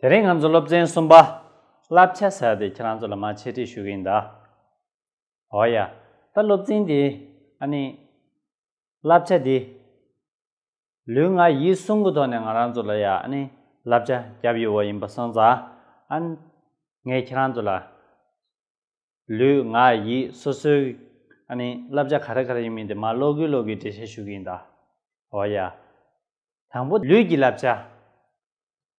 དེ་རིང་ང་ཚོ་སློབ་ཚན་གསུམ་པ་བསླབ་བྱ་ཟེར་དེ་ཁྱེད་རང་ཚོ་ལ་མ་འཆད་ཁྲིད་ཞུ་གི་ཡིན་ད། འོ་ཡ། ད་སློབ་ཚན་དེ་ཨ་ནི། བསླབ་བྱ་དེ། ལུས་ངག་ཡིད་གསུམ་གི་ཐོག་ནས་ང་རང་ཚོ་ལ་ཡ་ཨ་ནི་བསླབ་བྱ་བརྒྱབ་ཡོད་བ་ཡིན་པ་གསུངས་ཙང་ཨ། ངས་ཁྱེད་རང་ཚོ་ལ། ལུས་ངག་ཡིད་སོ་སོའི་ཨ་ནི་བསླབ་བྱ་ག་རེ་ག་རེ་ཡིན་མིན་དེ་མ་ཀློག་གི་ཀློག་གི་འགྲེལ་བཤད་ཞུ་གི་ཡིན་ད། འོ་ཡ། དང་པོ་ལུས་ཀྱི་བསླབ་བྱ།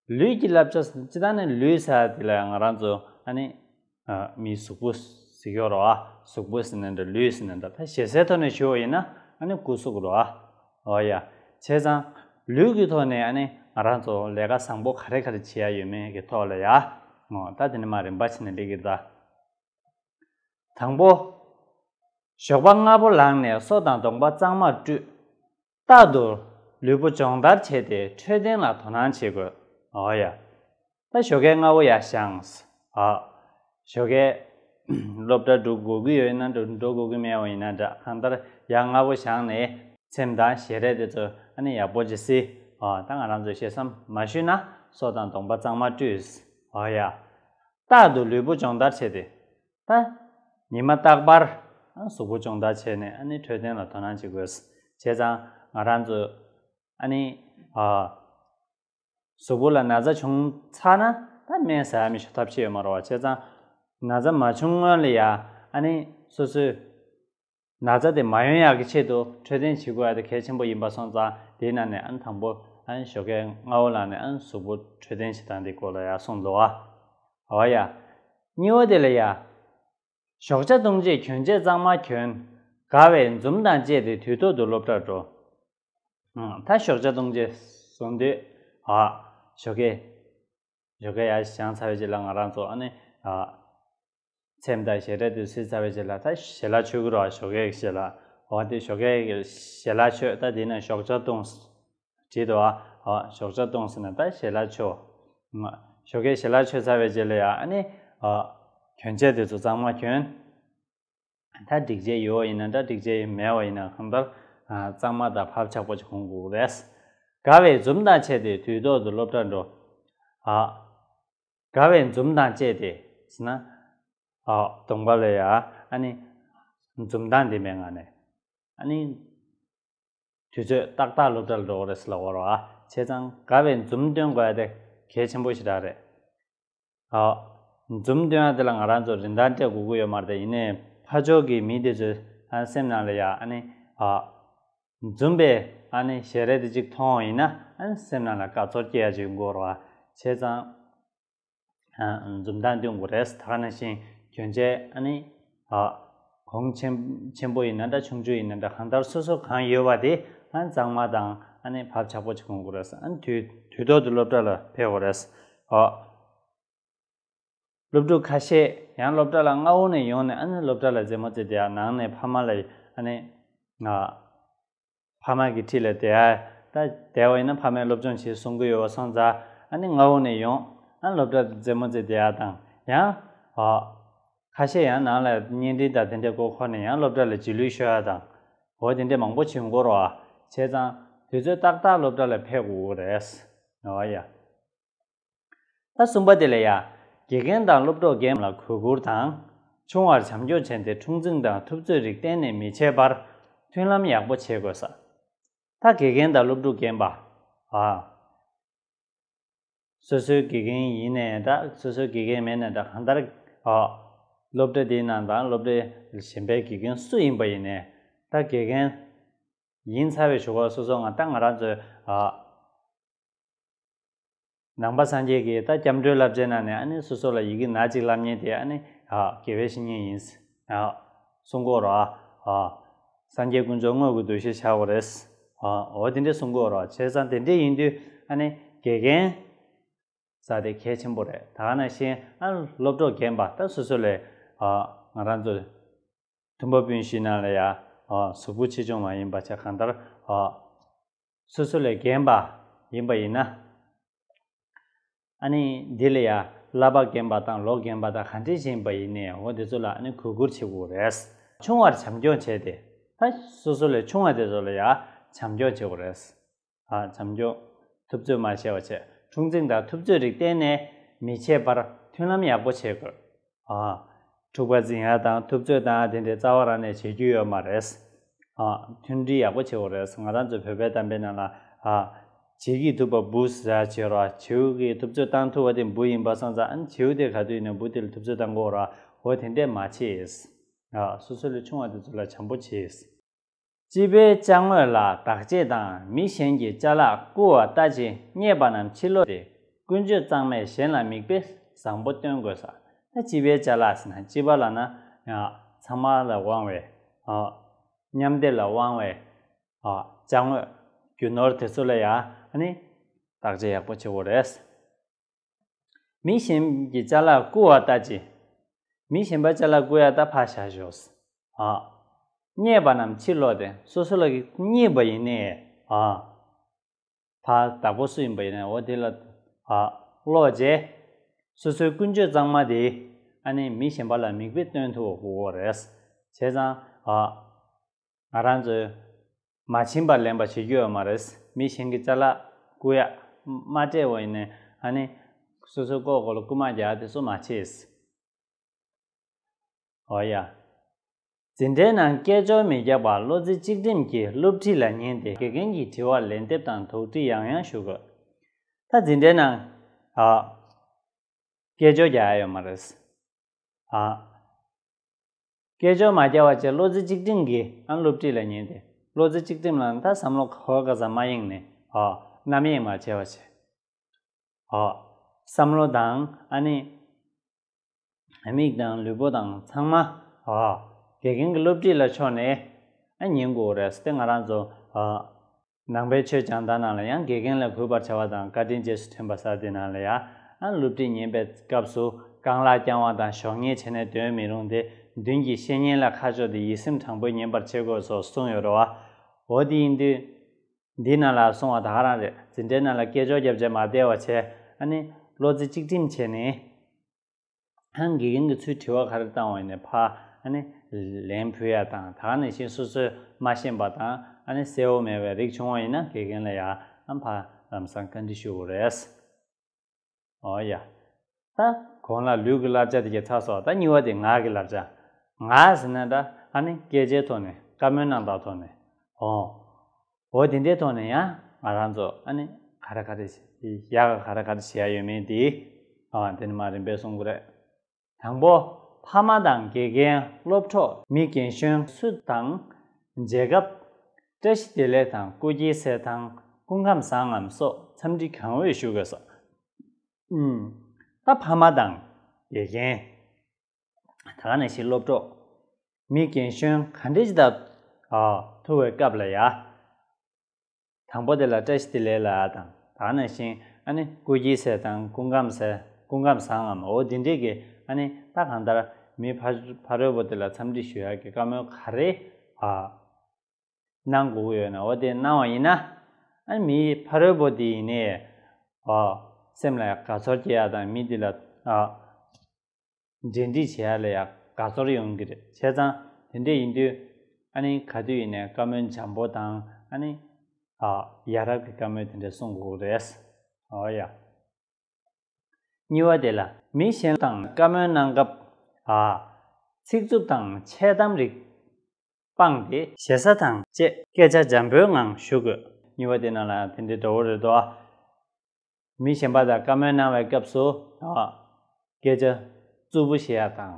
ལུས་ཀྱི་བསླབ་བྱ་སྤྱི་དང་ནི་ལུས་ས་དེ་ལ་ང་རང་ཚོ་ཨ་ནི་མིའི་གཟུགས་པོ་ཟེར་ཡོད་རོ་ཨ་གཟུགས་པོ་ཟེར་ནས་འདྲ་ལུས་ཟེར་ནས་འདྲ་ད་ཞེ་སའི་ཐོག་ནས་ཞུ་བ་ཡིན་ན་ཨ་ནི་སྐུ་གཟུགས་རོ་ཨ་འོ་ཡ་བྱས་ཙང་ལུས་ཀྱི་ཐོག་ནས་ཨ་ནི་ང་རང་ཚོ་ལས་ཀ་བཟང་པོ་ག་རེ་ག་རེ་བྱེད་ཡ་ཡོད་མེད་ཀྱི་ཐོག་ལ་ཡ་ངོ་ད་དེ་ནི་མ་རིན་པ་ཆེ་ནི་འགྲིག་གི་ད། དང་པོ། ཞོགས་པ་སྔ་པོ་ལངས་ནས་སོ་དང་གདོང་པ་གཙང་མར་བཀྲུས། རྟག་ཏུ་ལུས་པོ་སྦྱོང་བརྡར་བྱས་ཏེ་འཕྲོད་བསྟེན་ལ་དོ་སྣང་བྱེད་དགོས། ཨོ་ཡ། ད་ཞོ་ཁའི་རྔ་བོ་ཡ་ཤངས། ཨ། ཞོ་ཁའི། སློབ་གྲྭ་འགྲོ་དགོས་ཀྱི་ཡོད་ན་འགྲོ་འགྲོ་དགོས་ཀྱི་མེད་པ་ཡིན་ན་འདྲ་གང་ལྟར་ཡ་རྔ་བོ་ཤངས་ནས་ཚེམས་དང་ཞལ་རས་དེ་ཚོ་ཨ་ནི་ཡག་པོ་བྱེད་སྲིད། ཨོ་ད་ང་རང་ཚོས་ཤེས་སམ་མ་ཤུས་ན་སོ་དང་གདོང་པ་གཙང་མ་བཀྲུས། ཨོ་ཡ། རྟག་ཏུ་ལུས་པོ་སྦྱོང་བརྡར་བྱས་ཏེ་ད། ཉི་མ་རྟག་པར་གཟུགས་པོ་ཅུང་དག་བྱས་ནས་ནི་འཕྲོད་བསྟེན་ལ་དོ་སྣང་བྱེད་དགོས། བྱས་ཙང་ང་རང་ཚོས་ནི། གཟུགས་པོ་ལ་ན་ཚ་བྱུང་ཚར་ན་ད་སྨན་ཟ་ཡ་མི་ཤོ་ཐབས་ཤེས་ཡོད་མ་རོ་བ་བྱས་ཙང་ན་ཚ་མ་བྱུང་སྔོན་ལ་ཡང་ནི་སོ་སོས། ན་ཚ་དེ་མ་ཡོང་ཡག་གི་ཆེད་དུ་འཕྲོད་བསྟེན་བྱེད་དགོས་ཡག་དེ་གལ་ཆེན་པོ་ཡིན་པ་སོང་ཙང་དེའི་ནང་ནས་ཨན་དང་པོ་ཨན་ཞོ་ཀའི་རྔ་བོ་ལགས་ནས་ཨན་གཟུགས་པོ་འཕྲོད་བསྟེན་བྱེད་སྟངས་དེ་སྐོར་ལ་ཡག་སོང་འདུག་ཨ་བ་ཡ། གཉིས་བ་དེ་ལ་ཡ། ཞོགས་ཆ་བཏུང་རྗེས་གྱོན་ཆས་གཙང་མ་གྱོན། དགའ་བའི་འཛུམ་དང་བཅས་ཏེ་དུས་ཐོག་ཏུ་སློབ་གྲྭར་འགྲོ། ད་ཞོགས་ཆ་བཏུང་རྗེས་བཟོ་འདོད། ཨ། ཞོ་ཀའི། ཞོ་ཀའི་ཡ་བྱང་ཚ་བའི་རྗེས་ལ་ང་རང་ཚོ་ཨ་ནི། ཨ། ཚེམ་དང་ཞེས་སྒྲ་དུ་སིལ་ཚ་བའི་རྗེས་ལ་ད་ཞེ་ལ་ཆོས་གུར་བ་ཞོ་གེགས་ཞེས་ལ་འོ་དེ་ཞོ་གེགས་ཞེ་ལ་ཆོས་ད་དེ་ན་ཞོག་ཆ་ཏུང་སི་བྲིས་ཏོ་ཨ་ཞོག་ཆ་ཏུང་སི་ན་ད་ཞེ་ལ་ཆོ་ང་ཞོ་གེགས་ཞེ་ལ་ཆོས་ཚ་བའི་རྗེས་ལ་ཡ་ཨ་ནི་ཨ་གྱོན་ཆས་དེ་ཚོ་གཙང་མ་གྱོན་ད་སྒྲིག་ཆས་ཡོད་བ་ཡིན་ན་འདྲ་སྒྲིག་ཆས་མེད་བ་ཡིན་ན་གང་ལྟར་གཙང་མ་དང་བབ་ཆགས་པོ་ཅིག་གོང་དགོས་རེད་དགའ་བའི་འཛུམ་མདངས་ཆད་དེ་དུས་ཐོག་ཏུ་སློབ་གྲྭར་འགྲོ་ཨ། དགའ་བའི་འཛུམ་མདངས་བཅས་ཏེ་ཟིན་ན། ཧོ། དུང་བ་ལོས་ཡ། ཨ་ནི། འཛུམ་མདངས་འདི་མའི་ངང་ནས། ཨ་ནི། དུས་ཚོད་ཏག་ཏག་སློབ་གྲྭར་འགྲོ་གི་རེད་ཟེར་ལ་བོར་བ། བྱས་ཙང་དགའ་བའི་འཛུམ་སྟོན་དགོས་ཡ་དེ་གལ་ཆེན་པོ་ཞིག་རག་རེད། ཧོ། འཛུམ་སྟོན་ཡ་དེ་ལ་ང་རང་ཚོ་རིན་ཐང་སྤྲད་དགོས་ཀྱི་ཡོད་མ་རེད་ཡིན་ནའི་ཕ་ཕྱོགས་ཀྱི་མི་དེ་ཚོའི་ཧ་སེམས་ནང་ལ་ཡ་ཨ་ནི། ཧོ། འཛུམ་པས་ཨ་ནི་ཞེ་རལ་དུ་ཅིག་མཐོང་བ་ཡིན་ན་སེམས་ནང་ལ་དགའ་ཚོར་སྐྱེ་ཡ་ཅིག་འགོར་བ་བྱས་ཙང། འཛུམ་མདངས་སྟོན་དགོས་རེད་ད་ནང་བཞིན་གྱོན་ཆས་ཨ་ནི་གོང་ཆེན་པོ་ཡིན་ན་འདྲ་ཆུང་ཆུང་ཡིན་ན་འདྲ་གང་ལྟར་སོ་སོར་གང་ཡོད་པ་དེ་གཙང་མ་དང་ཨ་ནི་བབ་ཆགས་པོ་ཅིག་གོན་དགོས་རེད་དུས་ཐོག་ཏུ་སློབ་གྲྭ་ལ་ཕེབས་དགོས་རེད། སློབ་ཕྲུག་ཁ་ཤས་ཡང་སློབ་གྲྭ་ལ་སྔ་བོ་ནས་ཡོང་ནས་ཨ་ནི་སློབ་གྲྭ་ལ་རྫེ་མོ་རྩེ་དེ་ཡང་ནང་ནས་ཕ་མ་ལ་ཨ་ནི། ང། ཕ་མ་གི་ཁྲི་ལ་དེ་ཨ་ད་དལ་བ་ཡིན་ན་ཕ་མས་སློབ་སྦྱོང་བྱེད་གསུང་གི་ཡོད་བ་སང་ཛ་ཨ་ནི་སྔ་བོ་ནས་ཡོང་ཨ་ནི་སློབ་གྲྭ་རྫེ་མོ་རྩེ་དེ་ཨ་དང་ཡང། ཨ། ཁ་ཤས་ཡང་ནང་ལ་བརྙན་འཕྲིན་དང་དེ་འདྲས་སྐོར་འཁོར་ནས་ཡང་སློབ་གྲྭ་ལ་བྱིས་ལུས་ཤོད་ཨ་དང། འོ་དེ་འདྲས་མང་པོ་བྱིས་འཁོར་བ་བྱས་ཙང་དུས་ཚོད་ཏག་ཏག་སློབ་གྲྭ་ལ་ཕེབས་དགོས་གི་རེད། ཨ་ཡ། ད་གསུམ་པ་དེ་ལས་ཡ། དགེ་རྒན་དང་སློབ་གྲོགས་རྒན་ལ་གུས་བཀུར་དང། ཆུང་བར་བྱམས་སྐྱོང་བྱས་ཏེ་འཁྲུག་འཛིང་དང་ཐུབ་ཚོད་རིགས་གཏན་ནས་མི་བྱེད་པར་མཐུན་ལམ་ཡག་པོ་བྱེད་དགོས་ས། ད་དགེ་རྒན་དང་སློབ་ཕྲུག་རྒན་པ། ཨ། སོ་སོའི་དགེ་རྒན་ཡིན་ནས་འདྲ་སོ་སོའི་དགེ་རྒན་མེད་ནས་འདྲ་གང་ལྟར། ཨ། སློབ་གྲྭ་དེའི་ནང་དང་སློབ་གྲྭའི་གཞན་པའི་དགེ་རྒན་སུ་ཡིན་པ་ཡིན་ནས་འདྲ་དགེ་རྒན། ཡིན་ཚར་བའི་བཞུགས་སྒར་སོ་སོ་ང་ད་ང་རང་ཚོའི་ཨ། ནང་པ་སངས་རྒྱས་ཀྱིས་ད་སྐྱབས་འགྲོའི་བསླབ་བྱའི་ནང་ནས་ཨ་ནེ་སོ་སོ་ལ་ཡི་གེ་ན་གཅིག་བསླབ་ཉེན་དེ་ཨ་ནེ་དགེ་བའི་བཤེས་གཉེན་ཡིན། གསུང་གོ་རོ། སངས་རྒྱས་དཀོན་མཆོག་དངོས་ཀྱི་གདུལ་བྱའི་ཆག་གོ་རེད། འོ་དེ་འདྲའི་གསུང་གོ་རོ་བྱས་ཙང་དེ་འདྲའི་ཡིན་དུས་ཨ་ནེ་དགེ་རྒན་ས་དེ་གལ་ཆེན་པོ་རེད་ད་ང་ན་ཤེས་ཨ་སློབ་གྲོགས་རྒན་པ་ད་སོ་སོ་ལས་ང་རང་ཚོ་མཐུན་པ་སྤུན་བཞི་ནང་ལ་ཡང་གཟུགས་པོ་ཆེ་ཆུང་མ་ཡིན་པ་ཆ་གང་ལྟར་སོ་སོ་ལས་རྒན་པ་ཡིན་པ་ཡིན་ན། ཨ་ནི་འདི་ལ་ཡ་བསླབ་པ་རྒན་པ་དང་ལོག་རྒན་པ་དང་གང་འདྲེས་བཞིན་པ་ཡིན་ནས་འོ་དེ་ཚོ་ལ་ཨ་ནི་གུས་བཀུར་བྱེད་དགོས་རེད། ཆུང་བར་བྱམས་སྐྱོང་བྱས་ཏེ། ད་སོ་སོ་ལས་ཆུང་བ་དེ་ཚོ་ལ་ཡ་བྱམས་སྐྱོང་བྱེད་དགོས་རེད། ཨ་བྱམས་སྐྱོང་ཐུབ་ཚོད་མ་བྱས་པ་ཆེ་ཆུང་ཚིག་མདའ་ཐུབ་ཚོད་རིགས་གཏན་ནས་མི་བྱེད་པར་མཐུན་ལམ་ཡག་པོ་བྱེད་དགོས། འཁྲུག་པ་འཛིན་ཡ་དང་ཐུབ་ཚོད་དང་དེ་འདྲའི་རྩ་བ་རང་ནས་བྱེད་རྒྱུ་ཡོད་མ་རེད། མཐུན་སྒྲིལ་ཡག་པོ་བྱེད་དགོས་རེད་ང་རང་ཚོའི་བོད་པའི་གཏམ་དཔེ་རྣམས་ལ། བྱེས་ཀྱིས་ཐུབ་པ་འབུ་ཟ་བྱེད་རོགས་བྱེའུ་གིས་ཐུབ་ཚོད་བཏང་ཐུབ་བ་དེ་འབུ་ཡིན་པ་སོང་ཙང་བྱེའུ་དེ་ག་དུས་ནས་འབུ་དེ་ལ་ཐུབ་ཚོད་བཏང་དགོས་རོགས་དེ་འདྲས་མ་བྱེད། སོ་སོ་ལས་ཆུང་བ་དེ་ཚོ་ལ་བྱམས་པོ་བྱེད། སྤྱི་པའི་བཅའ་དངོས་ལ་དག་བྱེད་དང་མི་གཞན་གྱི་བཅའ་ལག་རྐུ་བ་ལྟ་ཅི་རྙེད་པ་རྣམས་ཕྱི་ལོགས་ཏེ་ཀུན་སྤྱོད་གཙང་མས་གཞན་ལ་མིག་དཔེ་བཟང་པོ་སྟོན་དགོས་ས་ན་སྤྱི་པའི་བཅའ་ལག་ཟིན་ན་སྤྱི་པ་ལ་ན་ཚང་མ་ལ་དབང་བའི་མཉམ་སྡེབ་ལ་དབང་བའི་བཅའ་དངོས་རྒྱུ་ནོར་དེ་ཚོ་ལ་ཡང་ནི་དག་བྱེད་ཡག་པོ་བྱེད་དགོས་རེད། མི་གཞན་གྱི་ལྕ་ལག་བརྐུ་བ་ལྟ་ཅི། མི་གཞན་པ་ལྕ་ལག་བརྐུ་ཡ་ད་ཕག་ཞག་ཞོགས། ཨཱ། རྙེད་པ་རྣམས་ཕྱིར་ལོག་སྟེ་སོ་སོ་ལ་རྙེད་པ་ཡིན་ནི། ཨཱ། ད་བདག་པོ་སུ་ཡིན་པ་ཡིན་ནའོ་དེ་ལ། ཨཱ། ལོག་རྗེས། སོ་སོའི་ཀུན་སྤྱོད་གཙང་མ་དེས་ཨ་ནི་མི་གཞན་པ་ལ་མིག་དཔེ་སྟོན་ཐུབ་བོ་རེད། བྱས་ཙང། ཨཱ། ང་རང་ཚོས། མ་བྱིན་པར་ལེན་པ་བྱེད་རྒྱུ་ཡོད་མ་རེད། མི་གཞན་གྱི་རྩ་ལག་རྐུ་ཡག་མ་སྤྲད་བ་ཡིན། ཨ་ནི། སོ་སོའི་ལྐོག་གོ་ལ་རྐུ་མ་རྒྱག་དེ་སུ་མ་བྱེད། ཨོ་ཡ། འཛིན་གྲྭའི་ནང་སྐད་ཅོར་མི་རྒྱག་པར་བློ་རྩེ་གཅིག་སྒྲིམ་གྱིས་སློབ་ཁྲིད་ལ་ཉན་ཏེ་དགེ་རྒན་གྱི་དྲི་བར་ལན་འདེབས་དང་དོགས་འདྲི་ཡང་ཡང་ཞུ་དགོས། ད་འཛིན་གྲྭའི་ནང། སྐད་ཅོར་རྒྱག་ཡ་ཡོད་མ་རེད། སྐད་ཅོར་མ་བསྐྱལ་བ་བཅས་བློ་རྩེ་གཅིག་སྒྲིམ་གྱིས་ཨང་སློབ་ཁྲིད་ལ་ཉན་ཏེ་བློ་རྩེ་གཅིག་སྒྲིམ་ལ་མཐར་བསམ་བློ་ཁ་ཧོ་ཀ་ཙམ་མ་ཡེངས་ནས་ཧོ། ནམ་ཡེངས་མ་བྱས་པ་བྱས། ཧོ། བསམ་བློ་དང་ཨ་ནི། མིག་དང་ལུས་པོ་དང་ཚང་མ་ཧོ། དགེ་རྒན་གྱི་སློབ་ཁྲིད་ལ་ཕྱོགས་ནས་ཨ་ཉན་དགོས་རེད་བསྟན་ང་རང་ཚོ་ཧོ། ནང་པའི་ཆོས་སྦྱང་བརྡ་རྣམས་ལ་ཡང་དགེ་རྒན་ལ་གུས་པར་བྱ་བ་དང་བཀའ་དྲིན་རྗེས་སུ་དྲན་པ་སོགས་དེ་རྣམས་ལ་ཡང་སློབ་ཁྲིད་ཉན་པའི་སྐབས་སུ་རྐང་ལག་བརྐྱང་བ་དང་གཞོགས་སྙེས་བྱས་ནས་དོན་མི་རུང་སྟེ་མདུན་གྱི་བཤེས་གཉེན་ལ་ཁ་ཕྱོགས་ཏེ་ཡིད་སེམས་དྲང་པོས་ཉན་པར་བྱེད་དགོས་སོགས་གསུངས་ཡོད་རོ། འོ་དེ་ཡིན་དུས། འདི་རྣམས་ལ་གསུང་བ་དག་རང་རེད་འཛིན་གྲྭའི་ནང་ལ་སྐད་ཅོག་བརྒྱབ་རྗེས་མ་བདེ་བ་བྱས་ཨ་ནི། བློ་རྩེ་གཅིག་སྒྲིམ་བྱས་ནས། ཨང་དགེ་རྒན་གྱི་ཚུལ་དྲི་བ་ག་རེ་བཏང་བ་ཡིན་ནས་ཕ་ཨ་ནི། ལན་ཕུལ་ཡ་དང་ད་ནི་བཞིན་སོ་སོའི་མ་ཤེས་པ་དང་ཨ་ནི་གསལ་བོ་མེད་པའི་རིགས་བྱུང་བ་ཡིན་ན་དགེ་རྒན་ལ་ཡ་ཨམ་ཕ་ལམ་སང་བཀའ་འདྲི་ཞུ་དགོས་རེད། ཨོ་ཡ། ད་གོང་ལ་ལུས་ཀྱི་བསླབ་བྱ་དེ་ཁྱེད་ཚ་སོགས་ད་གཉིས་བ་དེ་ངག་གི་བསླབ་བྱ། ངག་ཟེར་ན་ད་ཨ་ནི་སྐད་ཆའི་ཐོག་ནས་བཀའ་མོལ་གནང་སྟངས་ཐོག་ནས། ཨོ། འོ་དེ་འདྲའི་ཐོག་ནས་ཡང་ང་རང་ཚོ་ཨ་ནི་ག་རེ་ག་རེ་ཡ་ག་ག་རེ་ག་རེ་བྱེད་ཡ་ཡོད་མེད་དེ་ཨ་དེ་ནི་མ་རིན་པས་གསུང་གི་རེད། དང་པོ་ཕ་མ་དང་དགེ་རྒན་སློབ་གྲོགས་མི་རྒན་གཞོན་སུ་དང་མཇལ་སྐབས། བཀྲ་ཤིས་བདེ་ལེགས་དང་སྐུ་སྐྱེ་གསལ་ཐང་སྐུ་ཁམས་བཟང་ངམ་སོགས་འཚམས་འདྲི་གང་འོས་ཞུ་དགོས་སོ། ད་ཕ་མ་དང་དགེ་རྒན་ད་ག་ནས་ཤིག་སློབ་གྲོགས། མི་རྒན་གཞོན་ག་འདྲས་ཅི་ལྟར་ཐུ་བའི་སྐབས་ལ་ཡ། དང་པོ་དེ་ལ་བཀྲ་ཤིས་བདེ་ལེགས་ལ་དང་ད་ག་ནས་ཤིང་ཨ་ནི་སྐུ་སྐྱིད་ཟེར་དང་སྐུ་ཁམས་ཟེར་སྐུ་ཁམས་བཟང་ངམ་འོ་འདི་འདྲས་ཀྱི་ཨ་ནི་ད་གང་ལྟར་མི་ཕ་ཕ་རོལ་བོ་དེ་ལ་འཚམས་འདྲི་ཞུ་ཡག་གི་བཀའ་མོལ་ག་རེ་གནང་དགོས་ཀྱི་ཡོད་ན་འོ་དེ་གནང་བ་ཡིན་ན་ཨ་ནི་མི་ཕ་རོལ་བོ་དེ་ཡིན་ནའི་སེམས་ལ་དགའ་ཚོར་སྐྱེ་ཡག་དང་མི་དེ་ལ་འབྲེལ་འདྲིས་བྱེད་ཡ་ལ་ཡང་དགའ་ཚོར་ཡོང་གི་རེད་བྱས་ཙང་དེ་འདྲས་ཡིན་དུས་ཨ་ནི་ག་དུས་ཡིན་ནས་བཀའ་མོལ་འཇམ་པོ་དང་ཨ་ནི། ཨ། ཡ་རབས་ཀྱི་བཀའ་མོལ་དེ་འདྲས་གསུང་དགོས་རེད། ཨོ་ཡ། གཉིས་བ་དེ་ལ་མི་གཞན་དང་བཀའ་མོལ་གནང་སྐབས་ཨ། ཚིག་རྩུབ་དང་འཆལ་གཏམ་རིགས་སྤངས་ཏེ། ཞེ་ས་དང་བཅས་སྐད་ཆ་འཇམ་པོའི་ངང་ཞུ་དགོས་གཉིས་བ་དེ་རྣམས་ལ་ཡང་དེ་འདྲས་འདྲ་བོ་རེད་དོ་ཨ། མི་གཞན་པ་དང་བཀའ་མོལ་གནང་བའི་སྐབས་སུ་དག། སྐད་ཆ་རྩུབ་པོ་བཤད་ཡག་དང།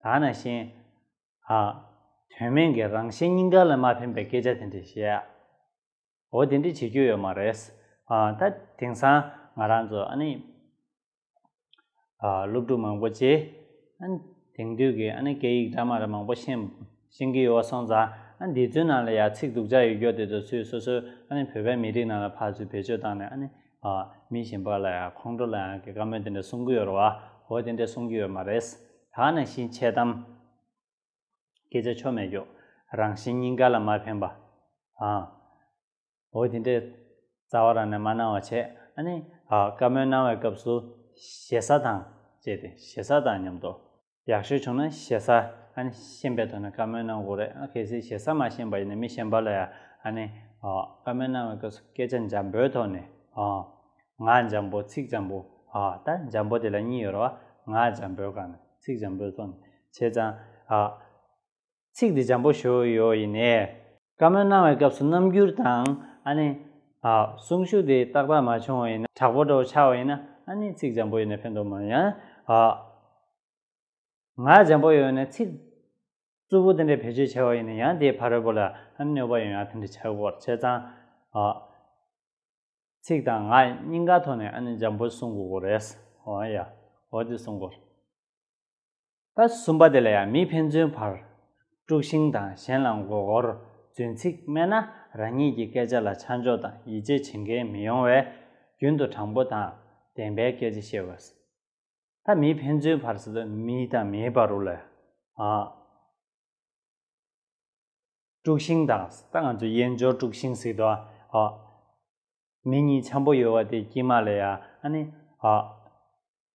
དག་ན་ཤེས། དག། དོན་མེད་ཀྱི་རང་གཞན་སྙིང་ག་ལ་མ་ཕན་པའི་སྐད་ཆ་དེ་འདྲས་བཤད་ཡག། འོ་དེ་འདྲས་བྱེད་རྒྱུ་ཡོད་མ་རེད། ད་དེང་སང་ང་རང་ཚོ་ཨ་ནི། སློབ་ཕྲུག་མང་པོ་བཅས་དེང་དུས་ཀྱི་སྐད་ཡིག་སྦྲགས་མ་རབས་མང་པོ་ཤེས་ཀྱི་ཡོད་པ་སོང་ཙང་འདི་ཚོའི་ནང་ལ་ཡང་ཚིག་སྡུག་ཅག་ཡོད་སྐྱོ་དེ་ཚོ་ཚུལ་སོ་སོའི་བོད་པའི་མི་རིགས་ནང་ལ་ཕར་ཚུར་བེད་སྤྱོད་བཏང་ནས་མི་གཞན་པ་ལ་ཡང་ཁོང་ཁྲོ་ལ་ཡང་གི་བཀའ་མོལ་དེ་འདྲ་གསུང་གི་ཡོད་རེད་བ་ཧོ་དེ་འདྲ་གསུང་གི་ཡོད་མ་རེད་ད་ནང་བཞིན་འཆལ་གཏམ་སྐད་ཆ་ཆོ་མེད་ཀྱོ་རང་བཞིན་སྙིང་ག་ལ་མ་ཕན་པ་ཨ། འོ་དེ་འདྲའི་རྩ་བ་རང་ནས་མ་གནང་བ་བྱས་ཨ་ནི་བཀའ་མོལ་གནང་བའི་སྐབས་སུ་ཞེ་ས་དང་བཅས་ཏེ་ཞེ་ས་དང་མཉམ་དུ་ཡག་ཤོས་བྱུང་ན་ཞེ་ས་ཨ་ནི་ཤན་པའི་ཐོག་ནས་བཀའ་མོལ་གནང་དགོས་རེད་ཨ་གལ་སྲིད་ཞེ་ས་མ་ཤན་པ་ཡིན་ན་མི་ཤན་པ་ལ་ཡང་ཨ་ནི་བཀའ་མོལ་གནང་བའི་སྐབས་སུ་སྐད་ཆ་འཇམ་པོའི་ཐོག་ནས་ངག་འཇམ་པོ་ཚིག་འཇམ་པོ་ད་འཇམ་པོ་དེ་ལ་གཉིས་ཡོད་རེད་བ་ངག་འཇམ་པོའི་སྒང་ནས་ཚིག་འཇམ་པོའི་ཐོག་ནས་བྱས་ཙང། ཚིག་འདི་འཇམ་པོ་ཞོ་ཡོ་ཡིན་ནས། བཀའ་མོལ་གནང་བའི་སྐབས་སུ་རྣམ་འགྱུར་དང་ཨ་ནི། གསུང་ཤུགས་དེ་ཏག་ཏག་མ་བྱུང་བ་ཡིན་ན་དྲག་པོ་འགྲོ་བ་ཆགས་པ་ཡིན་ན་ཨ་ནི་ཚིག་འཇམ་པོ་ཡོད་ནས་ཕན་ཐོགས་མ་ཡིན། ཡང་ངག་འཇམ་པོ་ཡོད་ནས་ཚིག་རྩུབ་པོ་དེ་འདྲའི་བེད་སྤྱོད་བྱས་པ་ཡིན་ན་ཡང་དེའི་ཕ་རོལ་པོ་ལ་ཨ་ནི་གནོད་པ་ཡོང་ཡང་དེ་འདྲ་བྱ་དགོས་པར་བྱས་ཙང། ཚིག་དང་ངག་གཉིས་ཀ་ཐོག་ནས་ཨ་ནི་འཇམ་པོ་གསུང་དགོས་རེད། འོ་ཡ། འོ་དེ་གསུང་དགོས། ད་གསུམ་པ་དེ་ལ་ཡང་མི་ཕན་ཚུན་བར་དཀྲུགས་ཤིང་དང་གཞན་ལ་མགོ་སྐོར་རྫུན་ཚིག་སྨྲས་ན་རང་ཉིད་ཀྱི་སྐད་ཆ་ལ་ཆ་འཇོག་དང་ཡིད་ཆེས་བྱེད་མཁན་མི་ཡོང་བས་རྒྱུན་དུ་དྲང་པོ་དང་བདེན་པའི་སྐད་ཆ་བཤད་དགོས། ད་མི་ཕན་ཚུན་བར་སོ་སོའི་མི་དང་མིའི་བར་རུ་ལ་ཡང་དཀྲུགས་ཤིང་དང་ད་ང་ཚོའི་དབྱེན་སྦྱོར་དཀྲུགས་ཤིང་ཟིག་ཏུ་མི་གཉིས་འཆམ་པོ་ཡོད་བ་དེ་དཀྱིལ་མ་ལ་ཡང་ཨ་ནི།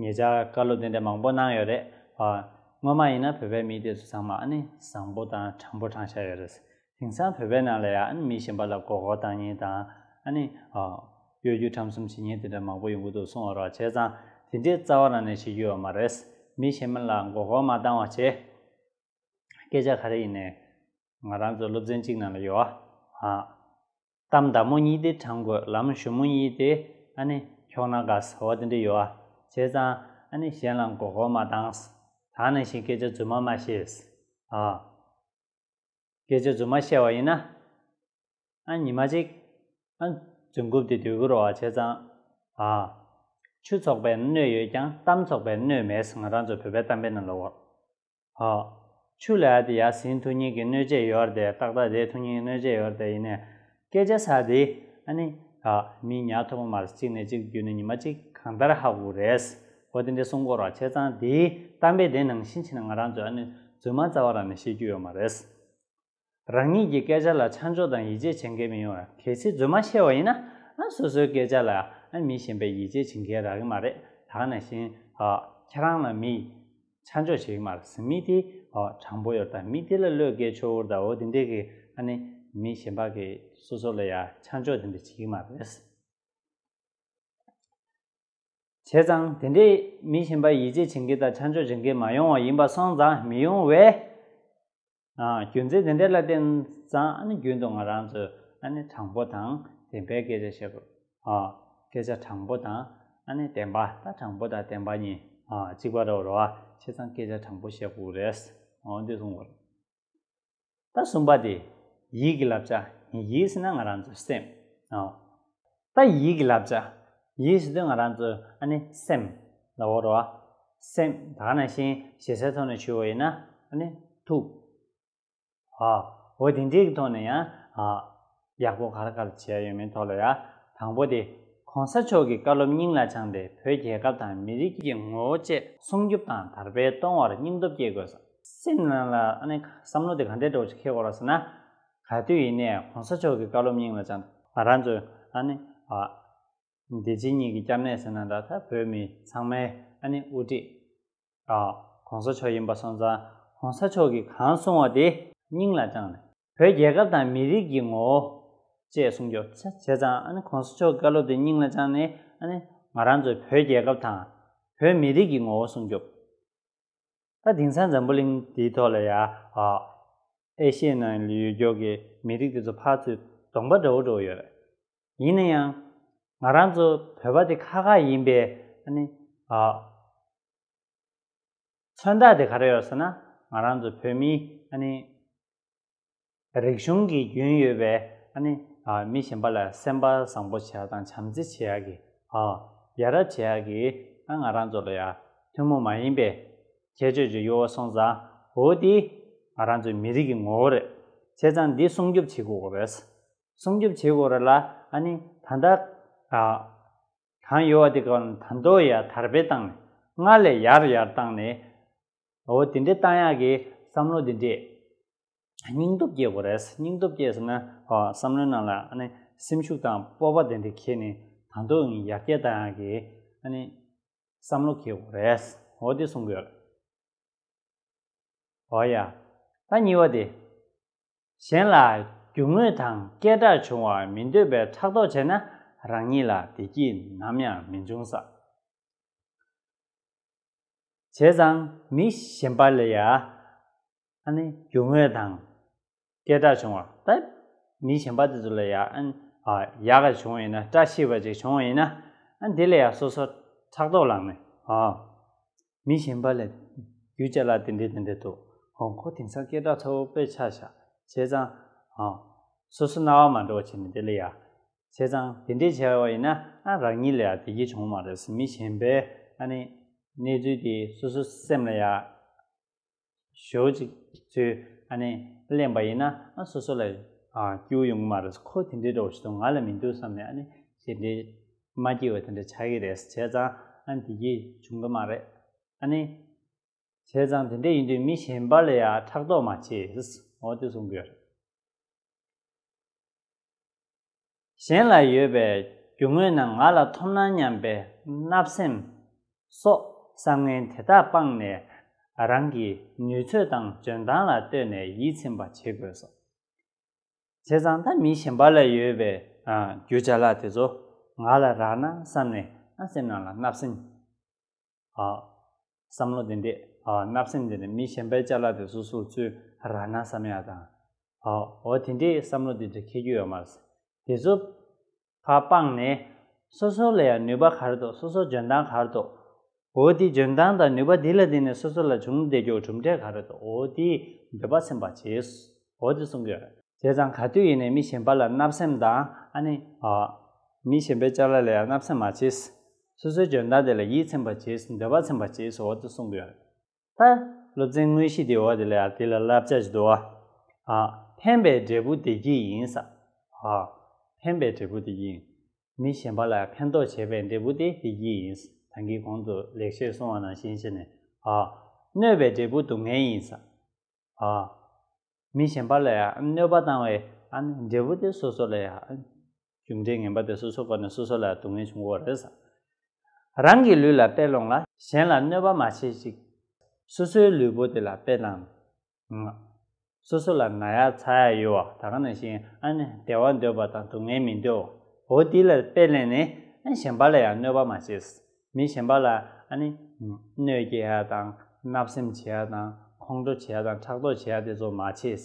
ངེད་ཅག་བཀའ་སློབ་དེ་འདྲ་མང་པོ་གནང་ཡོད་རེད་བ། སྔོན་མ་ཡིན་ན་བོད་པའི་མི་དེ་ཚོ་ཚང་མ་ནི་བཟང་པོ་དང་དྲང་པོ་དྲང་ཤ་ཡོད་རེད། དེང་སང་བོད་པའི་ནང་ལ་ཡང་མི་གཞན་པ་ལ་མགོ་སྐོར་དང་གཉིས་དང། གཡོ་སྒྱུ་ཁྲམ་གསུམ་བྱེད་ཉེས་དེ་འདྲ་མང་པོ་ཡོང་གི་འདུག་གསུང་བ་རོགས་བྱས་ཙང་དེ་འདྲའི་རྩ་བ་རང་ནས་བྱེད་རྒྱུ་ཡོད་མ་རེད། མི་གཞན་མ་ལ་མགོ་སྐོར་མ་བཏང་བ་བྱས། སྐད་ཆ་ག་རེ་ཡིན་ནས། ང་རང་ཚོ་སློབ་ཚན་གཅིག་ནང་ལ་ཡོད་བ། གཏམ་མདའ་མོ་གཉིས་ཏེ་བྲང་རྒོད་ལམ་གཞུ་མོ་གཉིས་ཏེ་ཨ་ནི་འཁྱོག་ན་དགའ་ཟེར་བ་དེ་འདྲ་ཡོད་ཨ་བྱས་ཙང་ཨ་ནི་གཞན་ལ་མགོ་སྐོར་མ་བཏངས། དག་ནང་བཞིན་སྐད་ཆ་རྫུན་མ་མ་བཤད། ཨ། སྐད་ཆ་རྫུན་མ་བཤད་བ་ཡིན་ན་ཨ་ཉི་མ་ཅིག་ཨ་རྫུན་རྐུབ་དེ་སྡོད་ཀི་རོགས་ཨ་བྱས་ཙང་ཨ། ཆུ་ཚོགས་པའི་སྣོད་ཡོད་ཀྱང་གཏམ་ཚོགས་པའི་སྣོད་མེད་ང་རང་ཚོ་བོད་པའི་གཏམ་དཔེ་རྣམས་ལ་འོ། ཧཱུྃ། ཆུ་ལས་ཨ་ཏི་ཡཱ་སིན་ཐུགས་ཉིད་ཀྱི་གནོད་བྱེད་ཡོར་དེ་རྟག་ཏག་དེ་ཐུགས་ཉིད་ཀྱི་གནོད་བྱེད་ཡོར་དེ་ཡིན་ནས། བསྐལ་བརྒྱ་ས་འདི་ཨ་ནི། ཧཱུྃ། མི་ཉག་ཐུ་བོ་མར་གཅིག་ནས་གཅིག་བརྒྱུད་ནས་ཉི་མ་གཅིག་གང་ལྟར་ཧ་གོ་རེས་གོ་དེ་འདྲའི་སྲུང་འཁོར་བ་ཆེ་ཚང་འདིའི་གཏམ་དཔེ་དེ་ནང་བཞིན་བྱས་ན་ང་རང་ཚོས་ཨ་ནི་རྫུན་མ་རྩ་བ་རང་ནས་བཤད་རྒྱུ་ཡོད་མ་རེད། རང་ཉིད་ཀྱི་སྐད་ཆ་ལ་ཆ་འཇོག་དང་ཡིད་ཆེས་བྱེད་མཁན་མི་ཡོང་ཡ་གལ་སྲིད་རྫུན་མ་བཤད་བ་ཡིན་ན་སོ་སོའི་སྐད་ཆ་ལ་མི་གཞན་པས་ཡིད་ཆེས་བྱེད་མཁན་རག་གི་མ་རེད་དག་ན་བཞིན་ཁྱེད་རང་ལ་མི་ཆ་འཇོག་བྱེད་ཀྱི་མ་རེད་སམ་མི་དེ་དྲང་པོ་ཡོད་དང་མི་དེ་ལ་བློས་འགེལ་ཆོག་འུར་ད་འུར་དེ་འདྲས་ཀྱི་མི་གཞན་པ་གི་སོ་སོ་ལ་ཡ་ཆ་འཇོག་དེ་འདྲས་བྱེད་ཀྱི་མ་རེད། བྱས་ཙང་དེ་འདྲས་མི་གཞན་པ་ཡིད་ཆེས་བྱེད་མཁན་དང་ཆ་འཇོག་བྱེད་མཁན་མ་ཡོང་བ་ཡིན་པ་སོང་ཙང་མི་ཡོང་བས་རྒྱུ་མཚན་དེ་འདྲ་ལ་བརྟེན་ཙང་ཨ་ནི་རྒྱུན་དུ་ང་རང་ཚོས་ཨ་ནི་དྲང་པོ་དང་བདེན་པའི་སྐད་ཆ་བཤད་དགོས། སྐད་ཆ་དྲང་པོ་དང་ཨ་ནི་བདེན་པ་ད་དྲང་པོ་དང་བདེན་པ་གཉིས་གཅིག་པ་རེད་རོ་ཨ་བྱས་ཙང་སྐད་ཆ་དྲང་པོ་བཤད་དགོས་རེད། འོ་འདི་གསུངས་དགོས་རེད། ད་གསུམ་པ་དེ་ཡིད་ཀྱི་བསླབ་བྱ་ཡིད་ཟེར་ན་ང་རང་ཚོའི་སེམས། ད་ཡིད་ཀྱི་བསླབ་བྱ། ཡིད་ཟེར་དུས་ང་རང་ཚོ་ཨ་ནི་སེམས། ལ་བོར་བ། སེམས་དག་ན་བཞིན་ཞེ་སའི་ཐོག་ནས་ཆུད་བ་ཡིན་ན་ཨ་ནི་ཐུགས། ཧ། འོ་དེ་འདྲའི་གི་ཐོག་ནས་ཡང་ཧ། ཡག་པོ་ག་རེ་ག་རེ་བྱས་ཡོད་མིན་ཐོག་ལ་ཡ། དང་པོ་དེ། གོང་ས་མཆོག་གིས་བཀའ་སློབ་སྙིང་ལ་བཅངས་ཏེ་བོད་རྒྱལ་ཁབ་དང་མི་རིགས་ཀྱི་ངོ་བོ་བཅས་སྲུང་སྐྱོབ་དང་དར་སྤེལ་གཏོང་བར་སྙིང་སྟོབས་སྐྱེད་དགོས། སེམས་ནང་ལ་ཨ་ནི་བསམ་བློ་དེ་ག་འདྲའི་སྒྲོག་ཅིག་ཁེལ་དགོས་རོགས་ཟེར་ན། ག་དུས་ཡིན་ནས་གོང་ས་མཆོག་གི་བཀའ་སློབ་སྙིང་ལ་བཅངས། ང་རང་ཚོས་ཨ་ནི་ཨ། བདེ་སྐྱིད་གཉིས་ཀྱི་སྐྱབས་གནས་ཟེར་ན་ད་ལྟ་བོད་མི་ཚང་མའི་ཨ་ནི་དབུ་ཁྲིད་ཨ། གོང་ས་མཆོག་ཡིན་པ་སོང་ཙང་གོང་ས་མཆོག་གིས་གང་གསུང་བ་དེ་སྙིང་ལ་བཅངས་ནས། བོད་རྒྱལ་ཁབ་དང་མི་རིགས་ཀྱི་ངོ་བོ། ཅེས་གསུང་རྒྱུ་བྱས་ཙང་ཨ་ནི་གོང་ས་མཆོག་གི་བཀའ་སློབ་དེ་སྙིང་ལ་བཅངས་ནས་ཨ་ནི་ང་རང་ཚོས་བོད་རྒྱལ་ཁབ་དང། བོད་མི་རིགས་ཀྱི་ངོ་བོ་སྲུང་སྐྱོབ། ད་དེང་སང་འཛམ་བུ་གླིང་འདིའི་ཐོག་ལ་ཡ་ཨ་ཨེ་ཤི་ཡའི་ནང་ལ་ཡོད་འགྱོག་གི་མི་རིགས་དེ་ཚོ་ཕར་ཚུར་གདོང་པ་འདྲ་བོ་འགྲོ་གི་ཡོད་རེད། ཡིན་ན་ཡང་ང་རང་ཚོ་བོད་པ་དེ་ཁ་ཁ་ཡིན་པས་ཨ་ནི་ཨ་ཨོ། མཚོན་རྟགས་དེ་ག་རེ་ཡོད་ཟེར་ན་ང་རང་ཚོ་བོད་མིའི་ཨ་ནི། རིག་གཞུང་གི་རྒྱུན་ཡོད་པའི་མི་གཞན་པ་ལ་སེམས་པ་བཟང་པོ་བྱས་དང་བྱམས་བརྩེ་བྱས་ཡག་གི། ཡ་རབས་བྱས་ཡག་གི། ང་རང་ཚོ་ལ་ཡང་ཐུན་མོང་མ་ཡིན་པའི་ཁྱད་ཆོས་ཅིག་ཡོད་སོང་ཙང་འོ་དེ་ང་རང་ཚོའི་མི་རིགས་ཀྱི་ངོ་བོ་རེད། བྱས་ཙང་འདི་སྲུང་སྐྱོབ་བྱེད་དགོས་རེད། སྲུང་སྐྱོབ་བྱེད་དགོས་རེད་ལ་ད་ལྟ་གང་ཡོད་དེ་གང་དོ་ཡར་དར་སྤེལ་བཏང་ནས་སྔར་ལས་ཡར་ཡར་བཏང་ནས་འོ་དེ་འདྲའི་རྟགས་ཡག་གི་བསམ་བློ་འདི་འདྲས། སྙིང་སྟོབས་སྐྱེ་དགོས་རེད། སྙིང་སྟོབས་སྐྱེས་ཟིན་ན་བསམ་བློའི་ནང་ལ་སེམས་ཤུགས་དང་སྤོབས་པ་དེ་འདྲས་ཁྱེར་ནས་ད་དུང་ཡང་ཡར་སྐྱེད་རྟགས་ཡག་གི་བསམ་བློ་སྐྱེ་དགོས་རེད། འོ་དེ་གསུང་དགོས། འོ་ཡ། ད་གཉིས་པ་དེ། གཞན་ལ་རྒྱུ་དངོས་དང་སྐད་གྲགས་བྱུང་བར་མི་འདོད་པའི་ཕྲག་དོག་བྱས་ན་རང་ཉིད་ལ་བདེ་སྐྱིད་ནམ་ཡང་མི་འབྱུང་ས། བྱས་ཙང་མི་གཞན་པ་ལ་ཡང་ཨ་ནི་རྒྱུ་དངོས་དང་སྐད་གྲགས་བྱུང་བ་ད་མི་གཞན་པ་དེ་ཚོ་ལ་ཡང་ཨ་ནི་ཡག་ག་བྱུང་བ་ཡིན་ན་བཀྲ་ཤིས་པ་ཅིག་བྱུང་བ་ཡིན་ན་དེ་ལ་ཡང་སོ་སོ་ཕྲག་དོག་ལངས་ནས་ཨ་མི་གཞན་པ་ལ་རྒྱུ་ཅག་ལ་དེ་འདྲས་དེ་འདྲས་འདུག་ཨོ་ཁོ་དེང་སང་སྐད་གྲགས་མཐོ་པོ་དཔེ་ཆ་བཞག་བྱས་ཙང་ཨ་སོ་སོ་རྣ་བ་མ་འགྲོ་བ་བྱས་ནས་དེ་ལ་ཡང་བྱས་ཙང་དེ་འདྲས་བྱས་བ་ཡིན་ན་རང་ཉིད་ལ་ཡང་བདེ་སྐྱིད་བྱུང་བ་མ་རེད་ཟེར་མི་གཞན་པས་ཨ་ནི་གནས་ཚུལ་དེ་སོ་སོའི་སེམས་ལ་ཡང་ཞོག་ཅིག་ཚུལ་ཨ་ནི་གླེང་བ་ཡིན་ན་སོ་སོ་ལ་ཡང་སྐྱོ་ཡོང་གི་མ་རེད་ཁོ་དེ་འདྲས་འགྲོ་བ་ཞིག་དང་ང་ལ་མི་འདུག་བསམ་ནས་ཨ་ནི་ཞེ་འདྲས་མ་སྐྱེ་བ་དེ་འདྲས་ཆགས་ཀྱི་རེད་བྱས་ཙང་ཨ་ནི་བདེ་སྐྱིད་བྱུང་གི་མ་རེད་ཨ་ནི། བྱས་ཙང་དེ་འདྲས་ཡིན་དུས་མི་གཞན་པ་ལ་ཡང་ཕྲག་དོག་མ་བྱེད་ཟེར་འོ་དེ་གསུང་གི་ཡོད་རེད། གཞན་ལ་ཡོད་པའི་རྒྱུ་དངོས་ནང་ང་ལ་ཐོབ་ན་སྙམ་པའི་བརྣབ་སེམས་སོགས་བསམ་ངན་དེ་དག་སྤངས་ནས་རང་གི་ནུས་ཚོད་དང་འཇོན་ཐང་ལ་ལྟོས་ནས་ཡིད་ཚིམ་པ་བྱེད་དགོས་སོ། བྱས་ཙང་ད་མི་གཞན་པ་ལ་ཡོད་པའི་རྒྱུ་ཆ་ལག་དེ་ཚོ་ང་ལ་རག་ན་བསམ་ནས་ང་སེམས་ནང་ལ་བརྣབ་སེམས་བསམ་བློ་དེ་འདྲས་བརྣབ་སེམས་དེ་འདྲས་མི་གཞན་པའི་བཅའ་ལག་དེ་སོ་སོར་བཙུད་ར་ན་བསམ་ཡག་དང། འོ་དེ་འདྲས་བསམ་བློ་དེ་འདྲས་འཁེལ་རྒྱུ་ཡོད་མ་རེད། དེ་ཚོ་ཕ་སྤངས་ནས་སོ་སོ་ལ་ཡང་ནུས་པ་གར་འདུག་སོ་སོ་འཇོན་ཐང་གར་འདུག་འོ་དེ་འཇོན་ཐང་དང་ནུས་པ་དེ་ལ་བརྟེན་ནས་སོ་སོ་ལ་བྱུང་བདེ་འགྱོགས་གྲུབ་འབྲས་ག་རེ་འདུག་འོ་དེ་འདོད་པ་སེམས་པ་བྱས་འོ་དེ་གསུང་གི་ཡོད། བྱས་ཙང་ག་དུས་ཡིན་ནས་མི་གཞན་པ་ལ་བརྣབ་སེམས་དང་ཨ་ནི། མི་གཞན་པའི་བཅའ་ལག་ལ་ཡང་བརྣབ་སེམས་མ་བྱས། སོ་སོའི་སྦྱོར་བརྡ་དེ་ལ་ཡིད་ཚིམ་པར་བྱས་སུ་འདོད་པ་ཚིམ་པར་བྱས་སུ་འོ་དོ་གསུངས་པའི་བར། ལྷ། སློབ་ཚན་དངོས་གཞི་དེའི་འོ་དེ་ལས་དེ་ལ་བསླབ་བྱ་བྱེད་དོ། ཨ། ཕན་པའི་འབྲས་བུ་བདེ་སྐྱིད་ཡིན། ས། ཧ། ཕན་པའི་འབྲས་བུ་བདེ་སྐྱིད་ཡིན། མི་གཞན་པ་ལ་ཕན་འདོགས་བྱས་པའི་འབྲས་བུ་དེ་བདེ་སྐྱིད་ཡིན། ད་གིན་གོང་དུ་ལེགས་བཤད་གསུང་བ་ནང་བཞིན་བྱས་ནས། ཨ། གནོད་པའི་འབྲས་བུ་སྡུག་བསྔལ་ཡིན། ས། ཧ། མི་གཞན་པ་ལ་གནོད་པ་བཏང་བའི། འབྲས་བུ་དེ་སོ་སོ་ལ། རྒྱུ་འབྲས་ངན་པ་དེ་སོ་སོའི་སྒོ་ནས་སོ་སོ་ལ་སྡུག་བསྔལ་བྱུང་བ་རེད་བསམ། རང་གི་ལུས་ལ་དཔེ་སློང་ལ། གཞན་ལ་གནོད་པ་མ་བྱེད་ཅིག། སོ་སོའི་ལུས་པོ་དེ་ལ་དཔེ་བླང། སོ་སོ་ལ་ན་ཡ་ཚ་ཡ་ཡོད་བ་ད་ག་ན་བཞིན་ཨ་ནི་བདེ་བ་འདོད་པ་དང་སྡུག་བསྔལ་མི་འདོད་བའོ་དེ་ལ་དཔེ་བླན་ནས་ཨ་ནི་གཞན་པ་ལ་ཡང་གནོད་པ་མ་བྱེད། མི་གཞན་པ་ལ་ཨ་ནི། གནོད་སྐྱེལ་ཡ་དང་བརྣབ་སེམས་བྱེད་ཡ་དང་ཁོང་ཁྲོ་བྱེད་ཡ་དང་ཕྲག་དོག་བྱེད་ཡ་དེ་ཚོ་མ་བྱེད།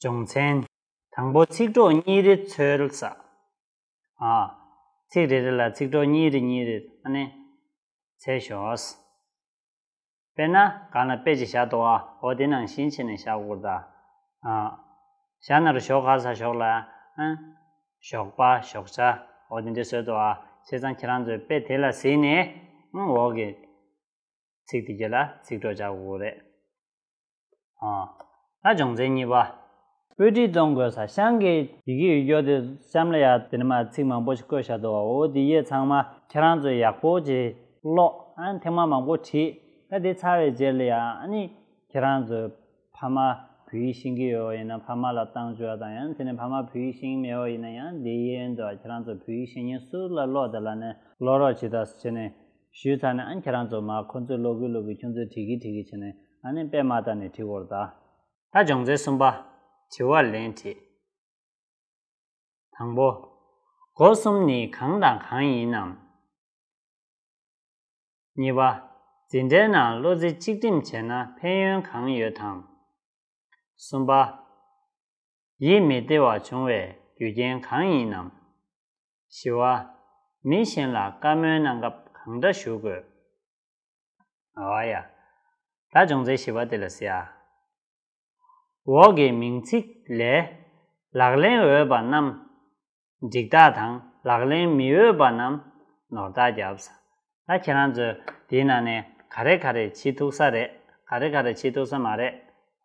སྦྱོང་ཚན། དང་པོ་ཚིག་གྲོགས་གཉིས་རེ་འཚོལ་ས། ཚིག་རེ་རེ་ལ་ཚིག་གྲོགས་གཉིས་རེ་གཉིས་རེ་ནས་འཚལ་ཞོག། དཔེར་ན་གང་ལ་དཔེ་ཅིག་བཞག་དོ་ཨ་ཨོ་དེ་ནང་བཞིན་བྱས་ནས་བཞག་བསྐུར་ད། བཞག་ན་རུ་ཞོག་ག་ས་ཞོག་ལ། ཞོག་པ་ཞོག་བྱ་ཨོ་དེ་འདྲས་བཟོས་དོ་ཨ་བྱས་ཙང་ཁྱེད་རང་ཚོས་དཔེ་དེ་ལ་གཟིགས་ནས་འོག་གི་ཚིག་དེ་གྱེས་ལ་ཚིག་གྲོགས་བྱ་དགོས་རེད། ལ་སྦྱོང་ཚན་གཉིས་པ། བོད་བྲིས་གཏོང་དགོས་ས་ཤང་གི། ཡི་གེ་ཡོད་རྒྱོ་དེ་གཤམ་ལ་ཡ་དེ་ནས་མ་ཚིག་མང་པོ་ཞིག་བཀོད་བཞག་འདུག་བ་འོ་དེ་ཡེ་ཚང་མ་ཁྱེད་རང་ཚོས་ཡག་པོ་ཅིག་ཀློག་ཨང་ཐེངས་མ་མང་པོ་བྲིས་ད་དེ་ཚར་བའི་རྗེས་ལ་ཡ་ནི་ཁྱེད་རང་ཚོས་ཕ་མ་བོད་ཡིག་ཤེས་ཀྱི་ཡོད་བ་ཡིན་ན་ཕ་མ་ལ་བཏང་བཅོལ་དང་ཡང་དེ་ནས་ཕ་མ་བོད་ཡིག་ཤེས་ཀྱི་མེད་བ་ཡིན་ན་ཡང་དེ་ཡེ་ཡོད་འདུག་བ་ཁྱེད་རང་ཚོས་བོད་ཡིག་ཤེས་ཉེན་སུ་ལ་ཀློག་དེ་ལ་ནས་ཀློག་རོགས་ཇི་ལྟར་བྱས་ནས་ཞུས་ཚར་ནས་ཨ་ནི་ཁྱེད་རང་ཚོ་མ་ཁོ་ཚོས་ལོ་གུ་ལོ་གུ་ཁྱོད་ཚོས་བྲིས་གི་བྲིས་གི་བྱས་ནས་ཨ་ནི་པད་མ་ལྟར་ནས་བྲིས་བོར་ད། ད་སྦྱོང་ཚན་གསུམ་པ། དྲི་བར་ལན་བྲིས། དང་པོ། སྒོ་གསུམ་ནི་གང་དང་གང་ཡིན་ནམ། གཉིས་པ། འཛིན་གྲྭའི་ནང་བློ་རྩེ་གཅིག་སྒྲིམ་བྱས་ན་ཕན་ཡོན་གང་ཡོད་དང། གསུམ་པ། ཡིད་མི་བདེ་བ་འབྱུང་བའི་རྒྱུ་རྐྱེན་གང་ཡིན་ནམ། བཞི་བ། མི་གཞན་ལ་བཀའ་མོལ་གནང་སྐབས་གང་འདྲ་ཞུ་དགོས། ཨ་བ་ཡ། ད་སྦྱོང་ཚའི་བཞི་བ་དེ་ལ་ཟེར་ཨ། འོག་གི་མིང་ཚིག་ལས། ལག་ལེན་འོས་པ་རྣམས་འགྲིག་རྟགས་དང་ལག་ལེན་མི་འོས་པ་རྣམས་ནོར་རྟགས་བརྒྱབ། ད་ཁྱེད་རང་ཚོས་དེའི་ནང་ནས་ག་རེ་ག་རེ་བྱེད་ཐུག་ས་རེད་ག་རེ་ག་རེ་བྱེད་ཐུག་ས་མ་རེད་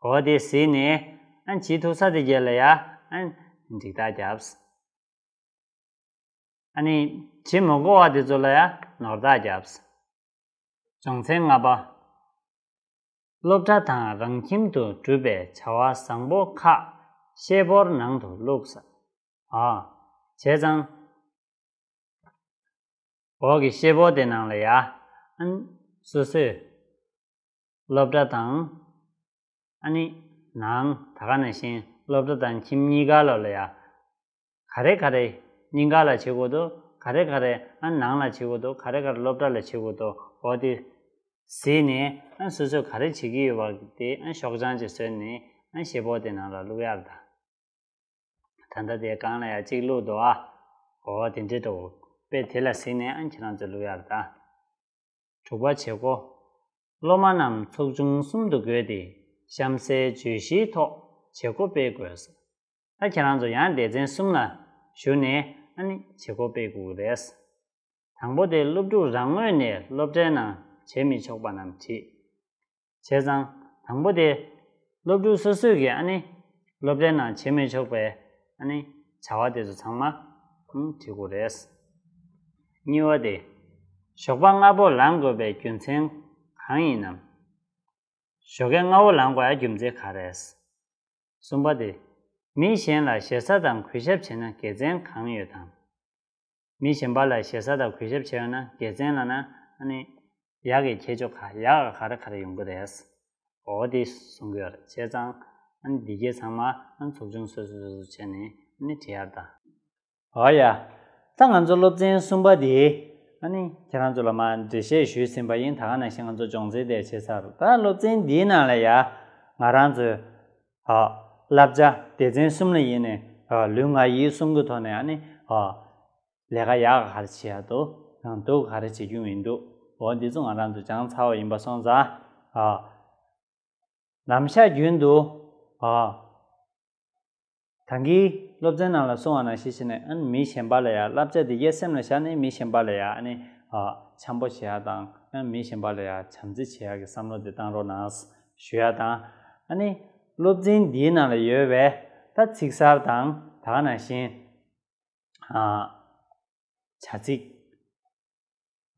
གོ་དེ་ཟིན་ནས་ཨ་བྱེད་ཐུག་ས་དེ་བརྒྱད་ལ་ཡ་ཨ་འགྲིག་རྟགས་བརྒྱབ། ཨ་ནི་བྱེད་མི་དགོས་བ་དེ་ཚོ་ལ་ཡང་ནོར་བདག་བརྒྱབས། སྦྱོང་ཚན་ལྔ་པ། སློབ་གྲྭ་དང་རང་ཁྱིམ་དུ་སྒྲུབ་པའི་བྱ་བ་བཟང་པོ་ཁག་ཤེལ་ཕོར་ནང་དུ་བླུགས། ཨ། བྱས་ཙང། འོག་གི་ཤེལ་ཕོར་དེ་ནང་ལ་ཡ། ཨན། སོ་སོས། སློབ་གྲྭ་དང། ཨ་ནི། ནང་ད་ག་ནས་བཞིན་སློབ་གྲྭ་དང་ཁྱིམ་གཉིས་ཀ་ལོ་ལ་ཡ། ག་རེ་ག་རེ་སྙིང་ག་ལ་བྱེད་དགོས་དོ་ག་རེ་ག་རེ་ནང་ལ་བྱེད་དགོས་དོ་ག་རེ་ག་རེ་སློབ་གྲྭ་ལ་བྱེད་དགོས་དོ་འོ་དེ་ཟིན་ནས་སོ་སོས་ག་རེ་བྱེད་ཀྱི་ཡོད་པ་དེ་ཤོག་བྱང་ཅིག་བཟོས་ནས་ཞེ་ཕོག་དེ་ནང་ལ་བླུག་ཡག་གདའ། ད་ལྟ་དེ་གང་ལ་ཡང་གཅིག་བླུག་འདུག་ཨ། འོ་དེ་འདྲི་འདུག་པས་དེ་ལ་ཟིན་ནས་ཁྱེད་རང་ཚོས་བླུག་ཡག་གདའ། དྲུག་པ་བྱེད་སྒོ། སློབ་མ་རྣམས་ཚོགས་ཆུང་གསུམ་དུ་བགོས་ཏེ་གཤམ་གསལ་བརྗོད་གཞིའི་ཐོག་བྱེད་སྒོ་སྤེལ་དགོས། ད་ཁྱེད་རང་ཚོ་ཡང་སྡེ་ཚན་གསུམ་ལ་ཞུགས་ནས་ཨ་ནི་བྱེད་སྒོ་སྤེལ་དགོས་རེད། དང་པོ་དེ་སློབ་ཕྲུག་རང་ངོས་ནས་སློབ་གྲྭའི་ནང་བྱེད་མི་ཆོག་པ་རྣམས་བྲིས། བྱས་ཙང་དང་པོ་དེ་སློབ་ཕྲུག་སོ་སོས་ཀྱིས་ཨ་ནི་སློབ་གྲྭའི་ནང་བྱེད་མི་ཆོག་པའི་ཨ་ནི་བྱ་བ་དེ་ཚོ་ཚང་མ་བྲིས་དགོས་རེད། གཉིས་བ་དེ་ཞོགས་པ་སྔ་པོ་ལངས་དགོས་པའི་རྒྱུ་མཚན་གང་ཡིན་ནམ། ཞོགས་ཀའི་སྔ་བོ་ལངས་པའི་རྒྱུ་མཚན་ག་རེད། གསུམ་པ་དེ། མི་གཞན་ལ་ཞེ་ས་དང་གུས་ཞབས་བྱེད་ན་དགེ་མཚན་གང་ཡོད་དམ། མི་གཞན་པ་ལ་ཞེ་ས་དང་གུས་ཞབས་བྱེད་འོས་ན་དགེ་མཚན་ལ་ན་ནི། ཡག་གི་ཁྱད་ཆོས་ག་ཡག་ག་རེ་ག་རེ་ཡོང་གི་རེད། འོ་དེ་གསུང་གི་ཡོད་རེད་བྱས་ཙང། འདི་གའི་ཚང་མ་ཚོགས་ཆུང་སོ་སོ་སོ་སོ་བྱས་ནས་ནི་བྲིས་ཡར་ལྟ། ཨོ་ཡ། ད་ང་ཚོ་སློབ་ཚན་གསུམ་པ་དེ། ཨ་ནི། ཁྱེད་རང་ཚོ་ལ་མ་འགྲེལ་བཤད་ཞུས་ཟིན་པ་ཡིན་ད་ག་ནང་བཞིན་ང་ཚོ་སྦྱོང་ཚིག་དེ་བྱེད་ཚར་ད་སློབ་ཚན་འདིའི་ནང་ལ་ཡ། ང་རང་ཚོའི། ཨོ། བསླབ་བྱ་སྡེ་ཚན་གསུམ་ལ་ཡིན་ནི། ཨོ། ལུས་ངག་ཡིད་གསུམ་གི་ཐོག་ནས་ཨ་ནི། ཨོ། ལས་ཀ་ཡག་ག་རེ་བྱེད་ཡག་དུ་ཡང་འདུག་ག་རེ་བྱེད་རྒྱུ་མི་འདུག་ཨོ། འདི་ཚོ་ང་རང་ཚོ་སྦྱང་ཚར་བ་ཡིན་པ་སོང་ཙང། ཨོ། ལམ་ཤར་རྒྱུན་དུ། ཨོ། དང་གིས། སློབ་ཚན་ནང་ལ་སོང་བ་ན་ཞེས་བྱས་ནས་ཨཱ་ནི་མི་གཞན་པ་ལ་ཡང་བསླབ་བྱ་དེ་ཡས་སེམས་ལ་བཞག་ནས་མི་གཞན་པ་ལ་ཡང་ཨཱ་ནི། འཆམ་པོ་བྱེད་ཡག་དང་ཨཱ་མི་གཞན་པ་ལ་ཡང་བྱམས་བརྩེ་བྱེད་ཡག་གི་བསམ་བློ་དེ་བཏང་རོགས་གནང། ཞུ་ཡག་དང། ཨཱ་ནི། སློབ་ཚན་འདིའི་ནང་ལ་ཡོད་པའི། ད་ཚིག་གསར་དང། དག་ན་བཞིན། བྱ་ཚིག།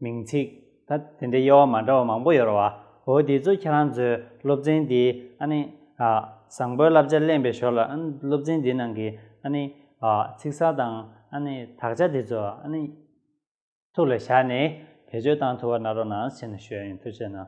མིང་ཚིག་ད་དེ་འདྲའི་དབྱེ་བ་མ་འདྲ་བ་མང་པོ་ཡོད་རོ་བ་འོ་དེ་ཚོ་ཁྱེད་རང་ཚོའི་སློབ་ཚན་འདི་ཨ་ནི་བཟང་པོའི་བསླབ་བྱ་གླེང་པའི་ཞོར་ལ་ཨ་ནི་སློབ་ཚན་འདི་ནང་གི་ཨ་ནི་ཚིག་གསར་དང་ཨ་ནི་དག་ཆ་དེ་ཚོ་ཨ་ནི་ཐུགས་ལ་བཞག་ནས་བེད་སྤྱོད་བཏང་ཐུབ་པ་གནང་རོགས་གནང་ཞེས་ན་ཞུ་ཡ་ཡིན་ཐུགས་ཆེ་གནང།